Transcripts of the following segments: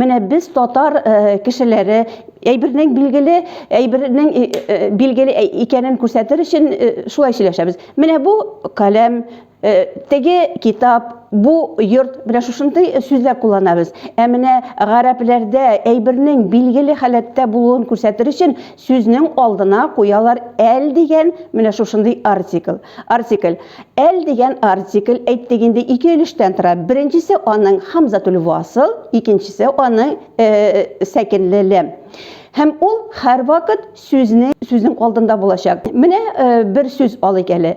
Менә без татар кешеләре әйбернең билгеле, әйбернең билгеле икәнен күрсәтер өчен шулай сөйләшәбез. Менә бу каләм, теге китап, бу йорт, менә шушындый сүзләр кулланабыз. Ә менә гарәпләрдә әйбернең билгеле халәттә булуын күрсәтер өчен Сүзнең алдына куялар әл дигән менә шушындый артикль. Артикль. Әл дигән артикль, әйттек инде, ике өлештән тора. Беренчесе аның һәмзәтүл васл, икенчесе аның сәкенле ләм. Һәм ул һәрвакыт сүзне сүзнең алдында булачак. Менә бер сүз алыйк әле.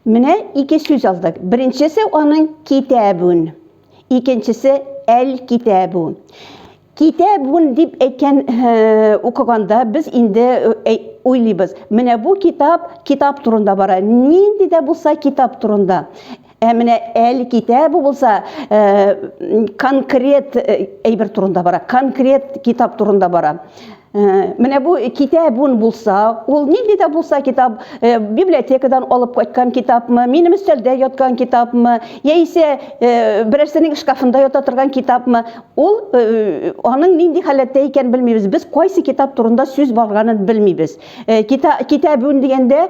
Менә ике сүз алдык. Беренчесе аның китәбүн. Икенчесе әл китәбү. Китәбүн дип әйткән э, укыганда без инде э, уйлыйбыз. Менә бу китап, китап турында бара. Нинди дә булса китап турында. Ә менә әле китә бу булса э, конкрет э, әйбер турында бара, конкрет китап турында бара. Э, менә бу китабун булса, ул нинди дә булса китап, э, библиотекадан алып кайткан китапмы, минем өстәлдә яткан китапмы, яисә э, берәрсенең шкафында ята торган китапмы, ул аның нинди халәттә икән белмибез. Без кайсы китап турында сүз барганын белмибез. Китабун дигәндә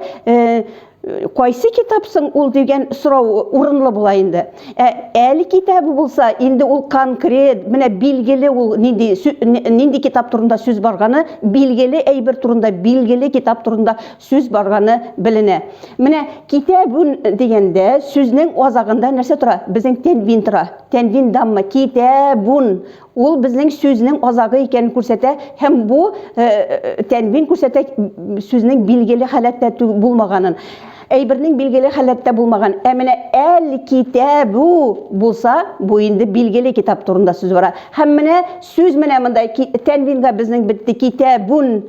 Кайсы китап соң ул дигән сорау урынлы була инде. Ә әле китабы булса, инде ул конкрет, менә билгеле ул нинди нинди китап турында сүз барганы, билгеле әйбер турында, билгеле китап турында сүз барганы беленә. Менә китабун дигәндә сүзнең азагында нәрсә тора? Безнең тәнвин тора. Тәнвин дамма китабун. Ул безнең сүзнең азагы икәнен күрсәтә һәм бу тәнвин күрсәтә сүзнең билгеле халәттә булмаганын. Әйбернең билгеле халәттә булмаган. Ә менә әл-китәбу булса, бу инде билгеле китап турында сүз бара. Һәм менә сүз менә монда тәнвинга безнең бетте китәбун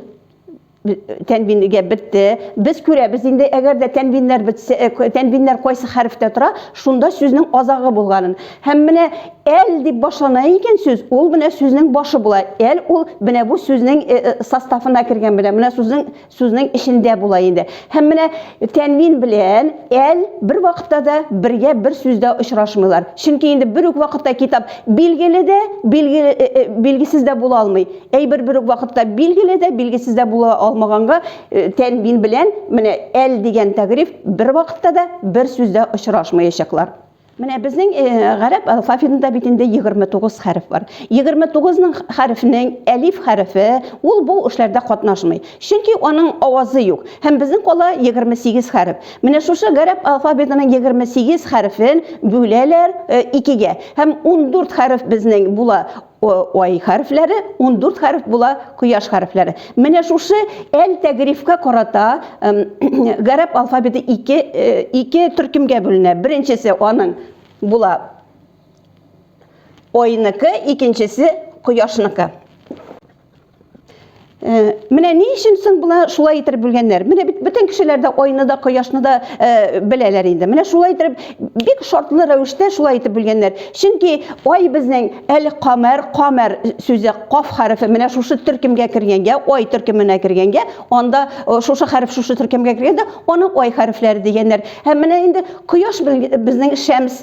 тәнвинегә бетте. Без күрәбез инде, әгәр дә тәнвиннәр бетсә, э, тәнвиннәр кайсы хәрефтә тора, шунда сүзнең азагы булганын. Һәм менә әл дип башлана икән сүз, ул менә сүзнең башы була. Әл ул менә бу сүзнең э, э, составына кергән белән, менә сүзнең сүзнең эчендә була инде. Һәм менә тәнвин белән әл бер вакытта да бергә бер сүздә очрашмыйлар. Чөнки инде бер үк вакытта китап билгеле дә, билгеле, э, э, билгесез дә була алмый. Әйбер бер үк вакытта билгеле дә, билгесез дә була алмаганга э, тәнбин белән менә әл дигән тәгриф бер вакытта да бер сүздә очрашмаячаклар. Менә безнең э, гарәп алфавитында бит инде 29 хәреф бар. 29 ның хәрефнең әлиф хәрефе ул бу эшләрдә катнашмый. Чөнки аның авазы юк. Һәм безнең кала 28 хәреф. Менә шушы гарәп алфавитының 28 хәрефен бүләләр э, икегә. Һәм 14 хәреф безнең була. Ай хәрефләре 14 хәреф була, кояш хәрефләре. Менә шушы әл тәгрифкә карата гарәп алфавиты ике, ике төркемгә бүленә. Беренчесе аның була айныкы, икенчесе кояшныкы. Э, менә ни өчен соң була шулай иттереп бүлгәннәр менә бит бөтен кешеләр дә айны да кояшны да э, беләләр инде менә шулай иттереп бик шартлы рәвештә шулай итеп бүлгәннәр чөнки ай безнең әле камәр камәр сүзе каф хәрефе менә шушы төркемгә кергәнгә ай төркеменә кергәнгә анда э, шушы хәреф шушы төркемгә кергәндә аны ай хәрефләре дигәннәр һәм менә инде кояш безнең шәмс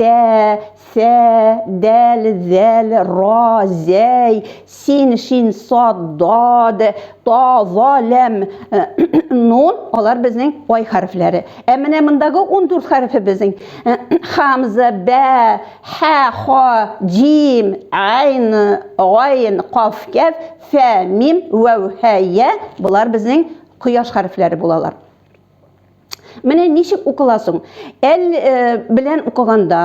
Тә, сә, дәл, зәл, ра, зәй, син, шин, сад, дад, та, ва, ләм, э, нун, алар безнең вай хәрефләре. Ә менә мондагы 14 хәрефе безнең э, хамза, бә, хә, ха, дим, айн, гайн, каф, кәф, фә, мим, вәү, һә, я, болар безнең кояш хәрефләре булалар. Менә ничек укыла соң? Әл э, белән укыганда,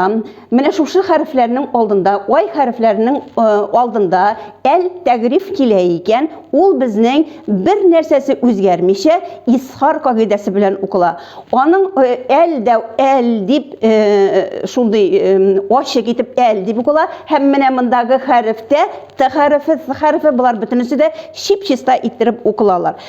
менә шушы хәрефләрнең алдында, ай хәрефләрнең э, алдында әл тәгриф килә икән, ул безнең бер нәрсәсе үзгәрмичә исхар кагыйдәсе белән укыла. Аның э, әл дә әл дип э, шундый э, ачык итеп әл дип укыла һәм менә мондагы хәрефтә т хәрефе, т хәрефе булар бөтенесе дә чип-чиста иттереп укылалар.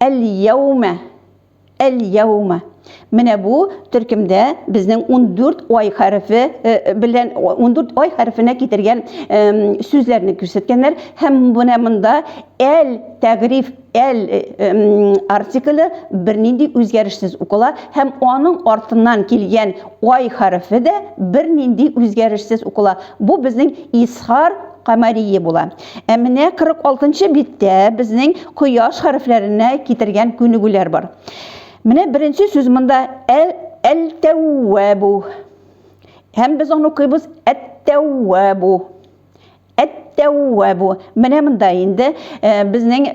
Әл-яумә, әл-яумә. Менә бу төркемдә безнең 14 ай хәрефе э, белән 14 ай хәрефенә китергән сүзләрне күрсәткәннәр һәм менә монда әл тәгриф әл э, артикле бернинди үзгәрешсез укыла һәм аның артыннан килгән ай хәрефе дә бернинди үзгәрешсез укыла. Бу безнең исхар камарие була. Ә менә 46 нчы биттә безнең кояш хәрефләренә китергән күнегүләр бар. Менә беренче сүз монда әл әл-тәүвәбу. Һәм без аны укыйбыз әт-тәүвәбу. Әт-тәүвәбу. Менә монда инде безнең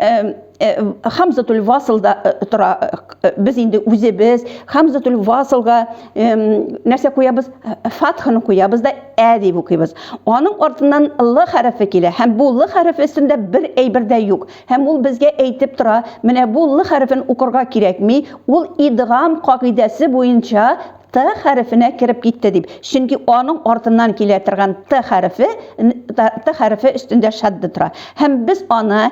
Хамзатуль Васылда тора. Без инде үзебез Хамзатуль Васылга нәрсә куябыз? Фатхны куябыз да ә дип укыйбыз. Аның артыннан л хәрефе килә. Һәм бу л хәрефе өстендә бер әйбер дә юк. Һәм ул безгә әйтеп тора, менә бу л хәрефен укырга кирәкми, ул идгам кагыйдәсе буенча т хәрефенә кереп китте дип. Чөнки аның артыннан килә торган т хәрефе т хәрефе өстендә шадда тора. Һәм без аны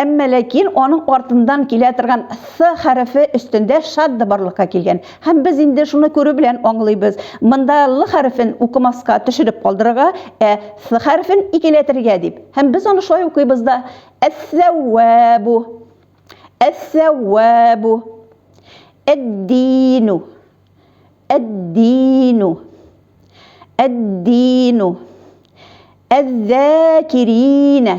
Әмма ләкин аның артыннан килә торган th хәрефе өстендә шадда барлыкка килгән. Һәм без инде шуны күрү белән аңлыйбыз, монда лы хәрефен укымаска, төшереп калдырырга, ә th хәрефен икеләтергә дип. Һәм без аны шулай укыйбыз да, әс-сәү-вә-бу, әс-сәү-вә-бу, әд-ди-ну, әд-ди-ну, әд-ди-ну, әз-зә-ки-ринә.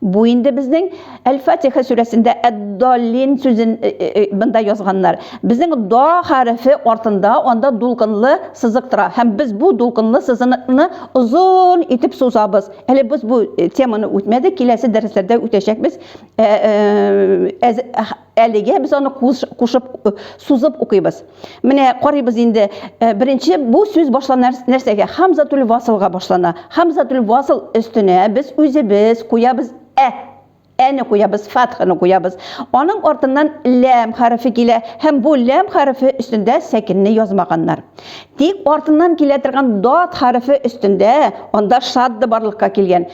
Бу инде безнең Әл-Фатиха сүрәсендә әд-даллин сүзен э, э, э, монда язганнар. Безнең да хәрефе артында анда дулкынлы сызык тора һәм без бу дулкынлы сызыкны озын итеп сузабыз. Әле без бу теманы үтмәдек, киләсе дәресләрдә үтәчәкбез. Әлегә без аны кушып, сузып укыйбыз. Менә карыйбыз инде. Беренче бу сүз башлана нәрсәгә? Хамзатул васылга башлана. Хамзатул васыл өстенә без үзебез куябыз ә. Әне куябыз, фатханы куябыз. Аның артыннан ләм хәрефе килә һәм бу ләм хәрефе өстендә сәкенне язмаганнар. Тик артыннан килә торган дат хәрефе өстендә анда шадда барлыкка килгән.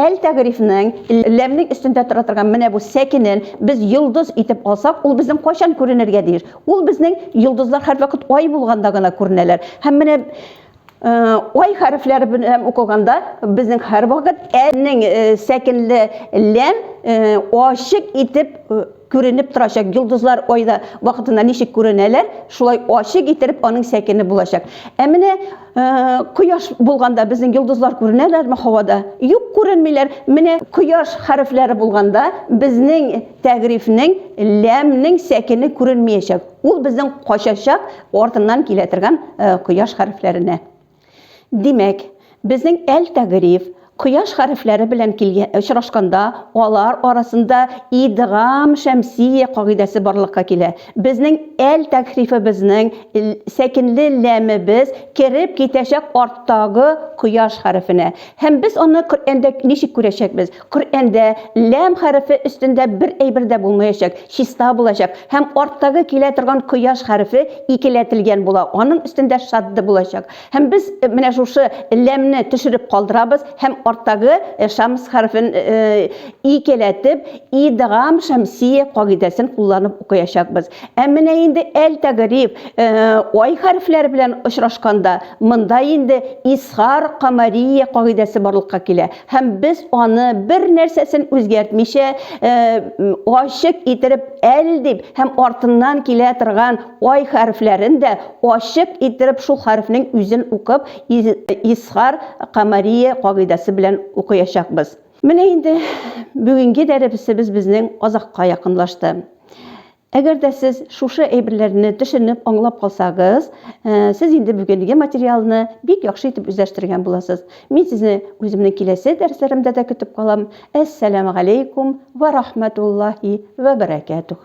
Әл-Тәгърифнең ләмнең өстендә тора торган менә бу сәкенен без йолдыз итеп алсак, ул безнең кайчан күренергә тиеш? Ул безнең йолдызлар һәрвакыт ай булганда гына күренәләр. Һәм менә ай хәрефләре белән укылганда безнең һәрвакыт әнең сәкенле ләм ачык итеп Күренеп торачак йолдызлар айда вакытында ничек күренәләр, шулай ачык иттереп аның сәкене булачак. Ә менә кояш булганда безнең йолдызлар күренәләрме һавада? Юк, күренмиләр. Менә кояш хәрефләре булганда безнең тәгърифнең ләмнең сәкене күренмиячәк. Ул безнең качачак артыннан килә торган кояш хәрефләренә. Димәк, безнең әл-тәгъриф, кояш хәрефләре белән килгән очрашканда, алар арасында идгам шәмсия кагыйдәсе барлыкка килә. Безнең әл-тәгърифебезнең сәкенле ләмебез кереп китәчәк арттагы кояш хәрефенә. Һәм без аны Коръәндә ничек күрәчәкбез? Коръәндә ләм хәрефе өстендә бер әйбер дә булмаячак, чиста булачак, һәм арттагы килә торган кояш хәрефе икеләтелгән була, аның өстендә шадда булачак. Һәм без менә шушы ләмне төшереп калдырабыз һәм арттагы шамс хәрефен икеләтеп, идгам шәмсия кагыйдәсен кулланып укыячакбыз. Ә менә инде әл-тәгъриб, ай хәрефләре белән очрашканда, монда инде изхар камария кагыйдәсе барлыкка килә. Һәм без аны бер нәрсәсен үзгәртмичә, ачык иттереп әл дип һәм артыннан килә торган ай хәрефләрен дә ачык иттереп шул хәрефнең үзен укып, изхар камарие кагыйдәсе белән укыячакбыз. Менә инде бүгенге дәребесебез безнең азакка якынлашты. Әгәр дә сез шушы әйберләрне төшенеп, аңлап калсагыз, сез инде бүгенге материалны бик яхшы итеп үзләштергән буласыз. Мин сезне үземнең киләсе дәресләремдә дә көтеп калам. Әссәләмәгаләйкүм вә рахмәтуллаһи вә бәрәкәтүһ.